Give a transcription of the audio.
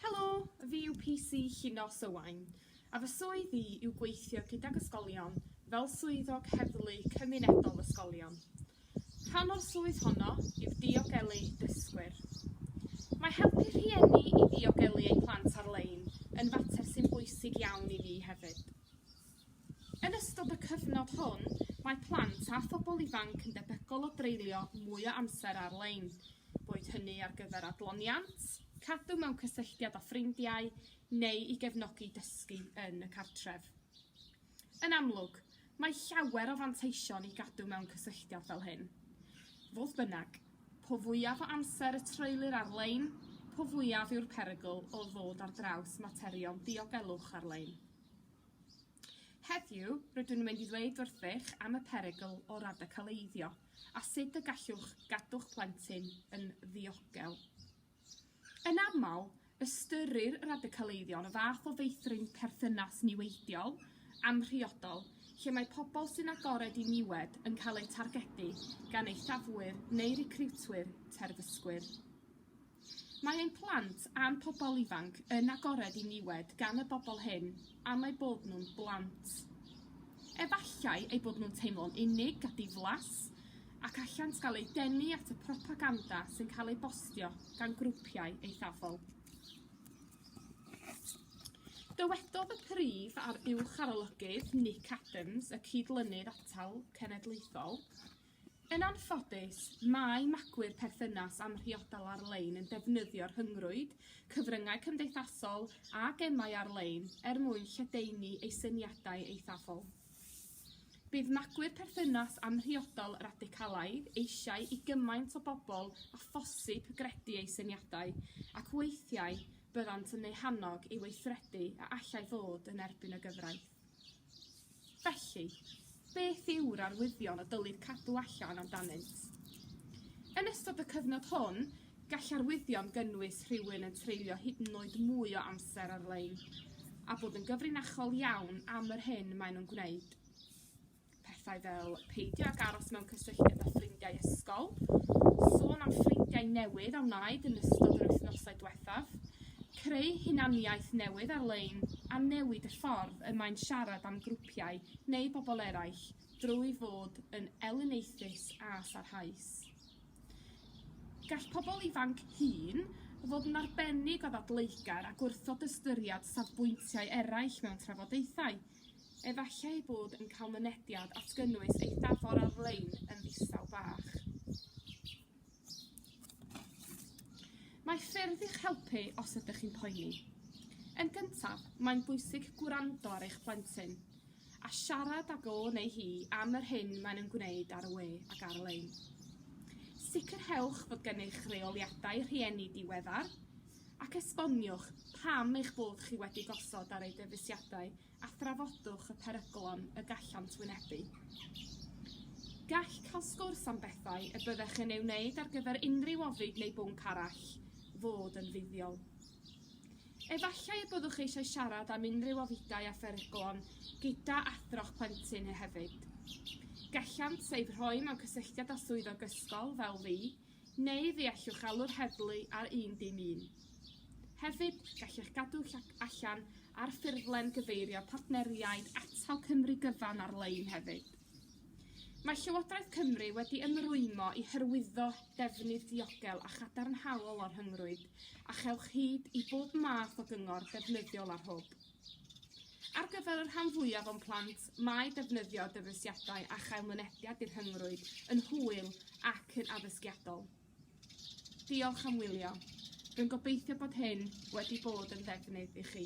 Helo, fi yw PC Llinos Owain, a fy swydd i yw gweithio gydag ysgolion fel Swyddog Heddlu Cymunedol Ysgolion. Rhan o'r swydd honno yw diogelu dysgwyr. Mae helpu rhieni i ddiogelu eu plant ar-lein yn fater sy'n bwysig iawn i fi hefyd. Yn ystod y cyfnod hwn, mae plant a phobl ifanc yn debygol o dreulio mwy o amser ar-lein, boed hynny ar gyfer adloniant, cadw mewn cysylltiad â ffrindiau neu i gefnogi dysgu yn y cartref. Yn amlwg, mae llawer o fanteision i gadw mewn cysylltiad fel hyn. Fodd bynnag, po fwyaf o amser y treulir ar-lein, po fwyaf yw'r perygl o ddod ar draws materion diogelwch ar-lein. Heddiw, rydw i'n mynd i ddweud wrthych am y perygl o radicaleiddio a sut y gallwch gadw'ch plentyn yn ddiogel. Yn aml, ystyrir radicaleiddio yn y fath o feithrin perthynas niweidiol, amhriodol, lle mae pobl sy'n agored i niwed yn cael eu targedu gan eithafwyr neu recriwtwyr terfysgwyr. Mae ein plant a'n pobl ifanc yn agored i niwed gan y bobl hyn am eu bod nhw'n blant. Efallai eu bod nhw'n teimlo'n unig a diflas, ac allant gael eu denu at y propaganda sy'n cael ei bostio gan grwpiau eithafol. Dywedodd y Prif a'r Uwch Arolygydd Nick Adams, y Cyd-lynydd Atal Cenedlaethol, Yn anffodus, mae magwyr perthynas amhriodol ar-lein yn defnyddio rhyngrwyd, cyfryngau cymdeithasol a gemau ar-lein er mwyn lledaenu eu syniadau eithafol. Bydd magwyr perthynas amhriodol radicalaidd eisiau i gymaint o bobl â phosib gredu eu syniadau, ac weithiau byddant yn eu hannog i weithredu a allai fod yn erbyn y gyfraith. Felly, beth yw'r arwyddion y dylid cadw allan amdanynt? Yn ystod y cyfnod hwn, gall arwyddion gynnwys rhywun yn treulio hyd yn oed mwy o amser ar-lein a bod yn gyfrinachol iawn am yr hyn maen nhw'n gwneud. Pethau fel peidio ag aros mewn cysylltiad â ffrindiau ysgol, sôn am ffrindiau newydd a wnaed yn ystod yr wythnosau diwethaf, creu hunaniaeth newydd ar-lein a newid y ffordd y mae'n siarad am grwpiau neu bobl eraill drwy fod yn elyniaethus a sarhaus. Gall pobl ifanc hŷn fod yn arbennig o ddadleugar a gwrthod ystyried safbwyntiau eraill mewn trafodaethau. Efallai ei bod yn cael mynediad at gynnwys eithafol ar-lein yn ddistaw bach. Mae ffyrdd i'ch helpu os ydych chi'n poeni. Yn gyntaf, mae'n bwysig gwrando ar eich plentyn a siarad ag o neu hi am yr hyn maen nhw'n gwneud ar y we ac ar-lein. Sicrhewch fod gennych reoliadau rhieni diweddar, ac esboniwch pam eich bod chi wedi gosod ar eu dyfeisiadau a thrafodwch y peryglon y gallant wynebu. Gall cael sgwrs am bethau y byddech yn ei wneud ar gyfer unrhyw ofid neu bwnc arall fod yn fuddiol. Efallai y byddwch eisiau siarad am unrhyw ofidau a pheryglon gyda athro'ch plentyn hefyd. Gallant eich rhoi mewn cysylltiad â swyddog ysgol, fel fi, Neu fe allwch alw'r heddlu ar 111. Hefyd, gallech gadw llac allan ar ffurflen gyfeirio partneriaid Atal Cymru gyfan ar-lein hefyd. Mae Llywodraeth Cymru wedi ymrwymo i hyrwyddo defnydd diogel a chadarnhaol o'r rhyngrwyd a chewch hyd i bob math o gyngor defnyddiol ar hwb. Ar gyfer y rhan fwyaf o'n plant, mae defnyddio dyfeisiadau a chael mynediad i'r rhyngrwyd yn hwyl ac yn addysgiadol. Diolch am wylio. Rwy'n gobeithio bod hyn wedi bod yn ddefnydd i chi.